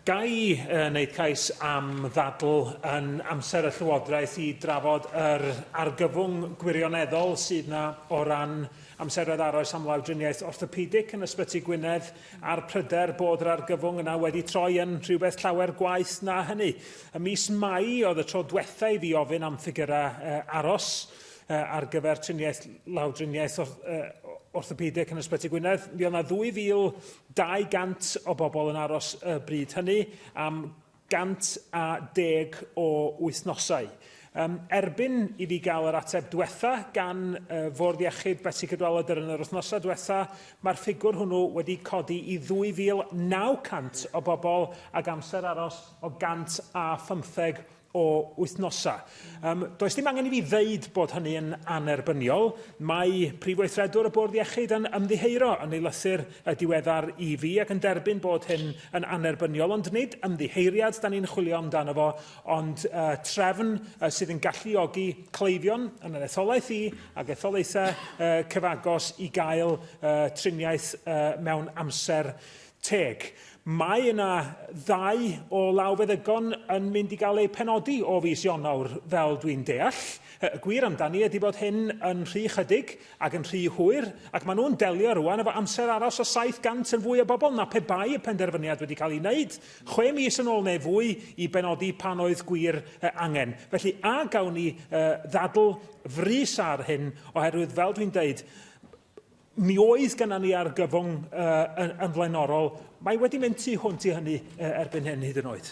Ga i uh, wneud cais am ddadl yn amser y Llywodraeth i drafod yr argyfwng gwirioneddol sydd yna o ran amseroedd aros am lawdriniaeth orthopedic yn Ysbyty Gwynedd a'r pryder bod yr argyfwng yna wedi troi yn rhywbeth llawer gwaeth na hynny. Y mis Mai oedd y tro diwetha i fi ofyn am ffigurau uh, aros uh, ar gyfer triniaeth lawdriniaeth uh, orthopedic yn Ysbyty Gwynedd. Mi oedd yna 2,000 200 o bobl yn aros y bryd hynny am 110 o wythnosau. Yym, erbyn i fi gael yr ateb dwetha gan y Fwrdd Iechyd Betsi Cadwaladr yn yr wythnosau dwetha, mae'r ffigwr hwnnw wedi codi i 2,900 o bobl ag amser aros o 115 o wythnosau. Um, does dim angen i fi ddeud bod hynny yn anerbyniol. Mae Prif Weithredwr y Bwrdd Iechyd yn ymddiheuro yn ei lythyr y diweddar i fi ac yn derbyn bod hyn yn anerbyniol, ond nid ymddiheuriad da ni'n chwilio amdano fo, ond uh, trefn uh, sydd yn galluogi cleifion yn yr etholaeth i ac etholaethau uh, cyfagos i gael uh, triniaeth uh, mewn amser Teg. Mae yna ddau o lawfeddygon yn mynd i gael eu penodi o fis Ionawr, fel dwi'n deall. Y gwir amdani ydy bod hyn yn rhy chydig ac yn rhy hwyr, ac maen nhw'n delio rŵan efo amser aros o 700 yn fwy o bobl na pe bai y penderfyniad wedi cael ei wneud chwe mis yn ôl neu fwy i benodi pan oedd gwir angen. Felly, a gawn ni ddadl frys ar hyn, oherwydd fel dwi'n deud, Mi oedd gennym ni argyfwng uh, yn, yn flaenorol. Mae wedi mynd tu hwnt i hynny uh, erbyn hyn hyd yn oed.